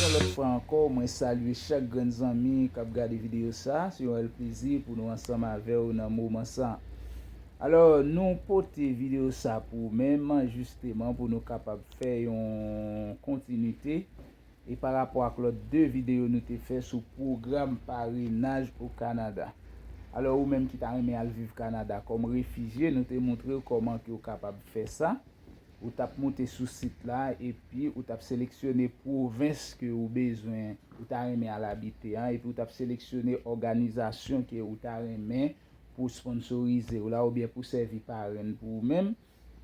Yon lòt fwa ankò mwen salye chak grenn zanmi kap gade videyo sa, se yon rèl plezi pou nou ansanm avèw nan moman sa. Alò nou pote videyo sa pou ou menm jisteman pou nou kapab fè yon kontinite E pa rapò ak lòt 2 videyo nou te fè sou pwogram parenaj o Kanada. Alò ou menm ki ta renmen al viv Kanada kòm refijye nou te moutre ou kòman ke ou kapab fè sa. Ou tap moute sou sit la epi ou tap seleksyone pwovens ke ou bezwen ou ta renmen al abite an epi ou tap seleksyone òganizasyon ke ou ta renmen pou sponsorize ou la oubyen pou sèvi parenn pou ou menm.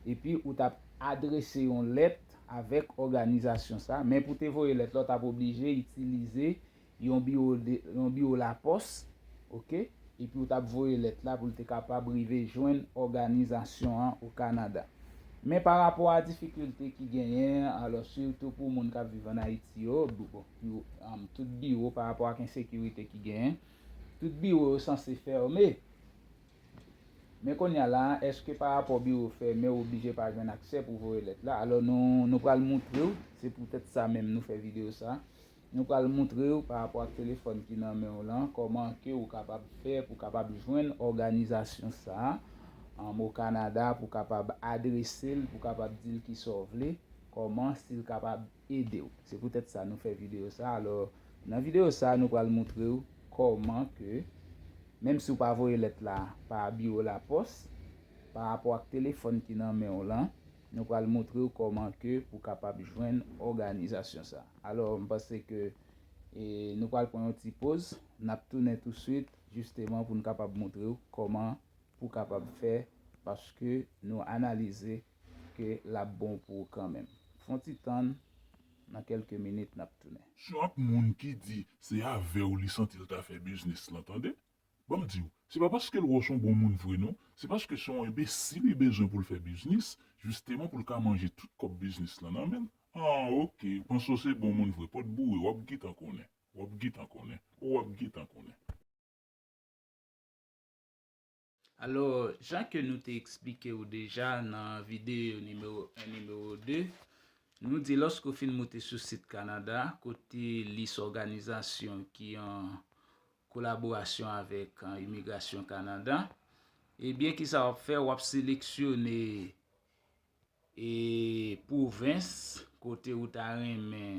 epi ou t ap adrese yon lèt avèk òganizasyon sa a. Men pou te voye lèt la, ou t ap oblije itilize yon biwo yon biwo lapòs ok epi ou t ap voye lèt la pou l te kapab rive jwenn òganizasyon an o Kanada. Men pa rapò a difikilte ki genyen alò sitou pou moun k ap viv ann Ayiti yo tout biwo pa rapò ak ensekirite ki genyen tout biwo yo sanse fèmen. Men kounye a la a, èske pa rapò biwo fèmen ou oblije pa jwenn aksè pou voye lèt la? Alò nou pral moutre w, se poutèt sa menm nou fè videyo sa a, nou pral moutre w pa rapò ak telefòn ki nan men w lan kòman ke ou kapab fè pou kapab jwenn òganizasyon sa a o Kanada pou kapab adrese l, pou kapab di l kisa w vle, kòman si l kapab. edew. Se poutèt sa nou fè videyo sa alò nan videyo sa nou pral moutrew kòman ke menm si ou pa voye lèt la pa biwo lapòs pa rapò ak telefòn ki nan menw lan nou pral moutrew kòman ke pou kapab jwenn òganizasyon sa alò m panse ke nou pral pran yon ti poz nap tounen touswit jisteman poun kapab moutrew kòman pou kapab fè paske nou analize ke lap bon pou ou kanmenm. Fon ti tann nan kelke minit nap tounen. Syon ak moun ki di se avèw li santi l ta fè biznis lan tande. Banm diw, se pa paske l wè w son bon moun vre non, se paske se yon enbesil li bezwen pou l fè biznis, jisteman pou l ka manje tout kòb biznis lan nan menl. An ok, ou panse w se bon moun vre, pòt boure wap gitan konnen, wap gitan konnen, oh wap gitan konnen. Alò, jan ke nou te eksplike ou deja nan videyo nimewo 1, nimewo 2, nou di lòske ou fin moute sou sit Kanada, kote lis òganizasyon ki an kolaborasyon avèk Imigrasyon Kanada, ebyen ki sa w ap fè, w ap seleksyone pwovens kote ou ta renmen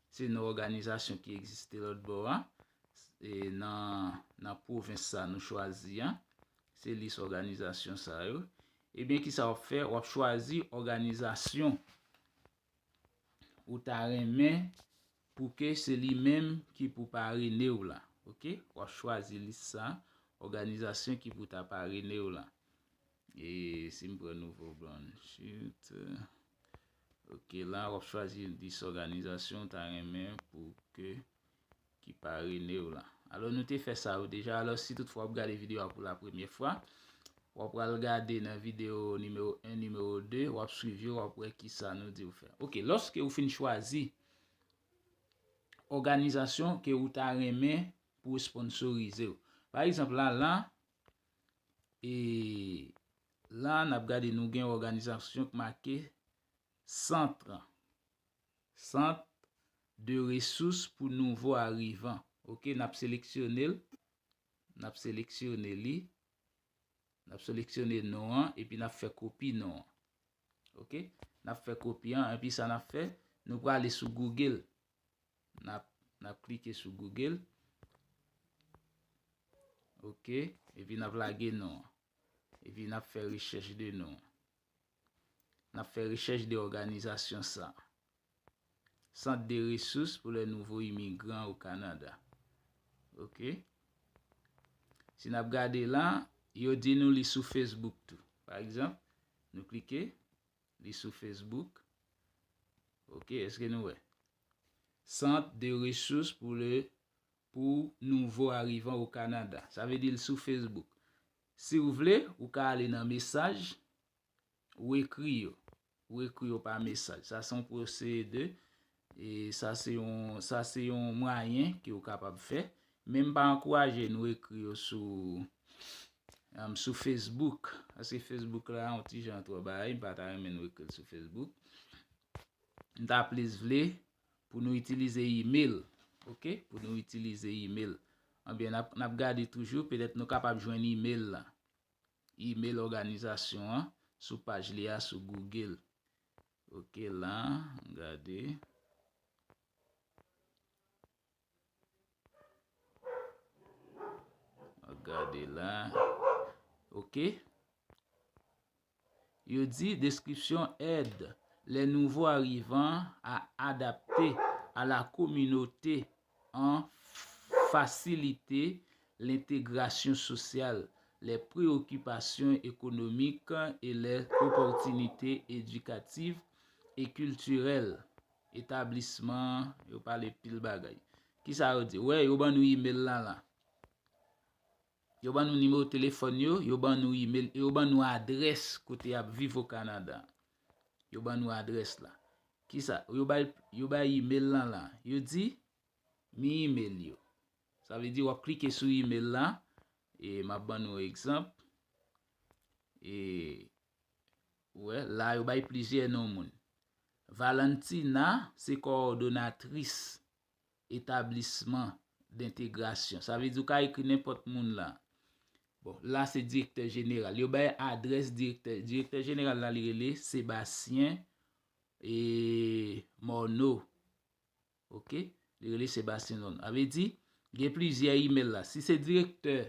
Se yon òganizasyon ki egziste lòtbò a, nan pwovens sa nou chwazi a. Se lis òganizasyon sa yo. Ebyen kisa w ap fè? W ap chwazi òganizasyon ou ta renmen pou ke se li menm ki pou parene w la. Ok? W ap chwazi lis sa, òganizasyon ki pou ta parene w la. E si m pran nouvo blan chut. Ok la wap chwazi yon 10 òganizasyon ou ta renmen pou ke ki parene w la. Alò nou te fè sa yo deja. Alò si tout fwa wap gade videyo a pou la premye fwa. Wap pral gade nan videyo nimewo 1, nimewo 2. Wap swiv yo wap wè ki sa nou diw fè. Ok lòske ou fin chwazi òganizasyon ke ou ta renmen pou esponsorize w. Pa egzanp la la. E la n ap gade nou gen òganizasyon k make Centre Centre de ressources pour nouveaux arrivants. Ok, n ap seleksyone l, n ap seleksyone li, n ap seleksyone non an epi n ap fè kopi non an. Ok, n ap fè kopi an epi sa n ap fè, nou prale sou Google. Nap klike sou Google. Ok. Epi nap lage non an. Epi nap fè rechèch de non. Nap fè rechèch de òganizasyon sa. Sant de resous pou lè nouvo imigran ou Kanada. Ok. Si nap gade la, yo di nou li sou Facebook tou. Pa egzanp, nou klike. Li sou Facebook. Ok, eske nou wè? Centre de ressources pour le pou nouvo arrivant au Canada. Sa vle di l sou Facebook. Si w vle, ou ka ale nan mesaj, ou ekri yo. Ou ekri yo pa mesaj. Sa se yon pwosede. E sa se yon sa se yon mwayen ke ou kapab fè. Men m pa ankouraje nou ekri yo sou sou Facebook. Paske Facebook la yon ti jan twò bagay, m pa ta renmen nou ekri l sou Facebook. M ta plis vle pou nou itilize email, ok, pou nou itilize email. Anben nap nap gade toujou, petèt nou kapab jwenn email la. Email òganizasyon an sou paj li a sou Google. Ok la an gade. An gade la. Ok. Yo di deskripsyon ed le nouvo arivan a adapte a la kominote an fasilite lentegrasyon sosyal, lè preyokipasyon ekonomik e lè opòtinite edikativ e kiltirèl etablisman an Yo pale pil bagay. Kisa yo di? Wè, yo ban nou email la la. Yo ban nou nimewo telefòn yo, yo ban nou email e yo ban nou adrès kote y ap viv o Kanada an. Yo ban nou adrès la. Kisa? Yo bay, yo bay email lan la. Yo di, mi email yo. Sa vle di w ap klike sou email la, e m ap ban nou yon egzanp. E, ou wè, la yo bay plizyè non moun. Valentina se kowòdonatris. etablisman dentegrasyon. Sa vle di ou ka ekri nenpòt moun la. Bon, la se direktè jeneral. Yo bay adrès direktè. Direktè jeneral la li rele Sébastien e Morneau. Ok? Li rele Sébastien e Morneau. A vle di, gen plizyè email la. Si se direktè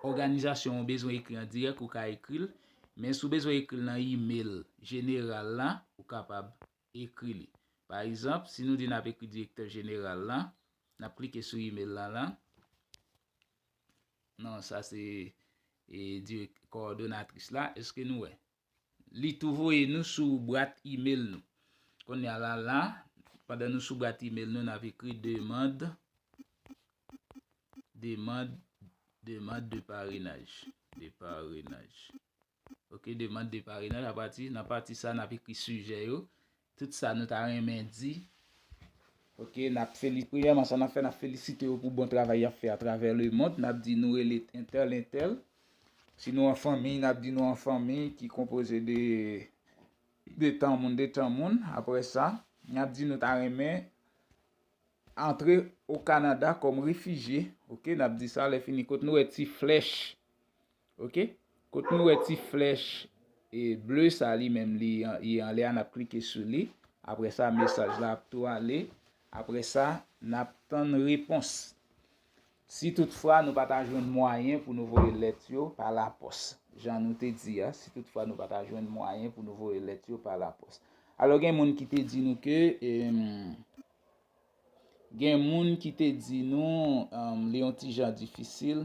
òganizasyon ou bezwen ekri an dirèk, ou ka ekri l. Men sou bezwen ekri l nan email jeneral la, ou kapab Ekri li. Pa egzanp, si nou di n ap ekri direktè jeneral lan, n ap klike sou imel lan la. Non, sa se kowòdonatris la. Eske nou wè? Li tou voye nou sou bwat imel nou. Kounye a la, la, pandan nou sou bwat imel nou, n ap ekri demand, demand, demand de parenaj, de parenaj. Ok, demand de parenaj a pati. Nan pati sa, nap ekri sijè yo. Tout sa nou ta renmen di. Ok, nap feli, premyèman sa nap fè, nap felisite yo pou bon travay yap fè atravè le mond. Nap di nou rele entèl, entèl. Si nou an fanmiy, nap di nou an fanmiy ki konpoze de de tan moun, de tan moun. Apre sa, nap di nou ta renmen antre o Kanada kòm refijye. Ok, nap di sa, lè fini kot nou wè ti flèch. Ok kot nou wè ti flèch ble sa li menm li ye anlè a nap klike sou li apre sa mesaj la ap tou ale apre sa nap tann repons si tout fwa nou pata jwenn mwayen pou nou voye lèt yo pa la pòs jan nou te di a si tout fwa nou pata jwenn mwayen pou nou voye lèt yo pa la pòs alò gen moun ki te di nou ke eemm gen moun ki te di nou li yon ti jan difisil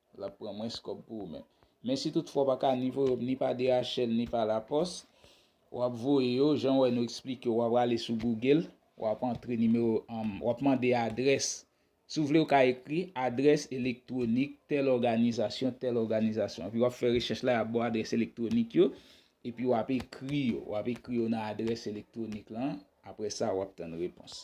L ap pran mwens kòb pou ou menm. Men si tout fwa w pa ka ni voye ni pa DHL ni pa lapòs, w ap voye yo, jan w wè nou eksplike, w a prale sou Google, w ap antre nimewo, w ap mande adrès, si w vle ou ka ekri adrès elektwonik tèl òganizasyon, tèl òganizasyon. Epi w ap fè rechèch la, y ap ba w adrès elektwonik yo, epi w ap ekri yo, w ap ekri yo nan adrès elektwonik lan, apre sa w ap tann repons.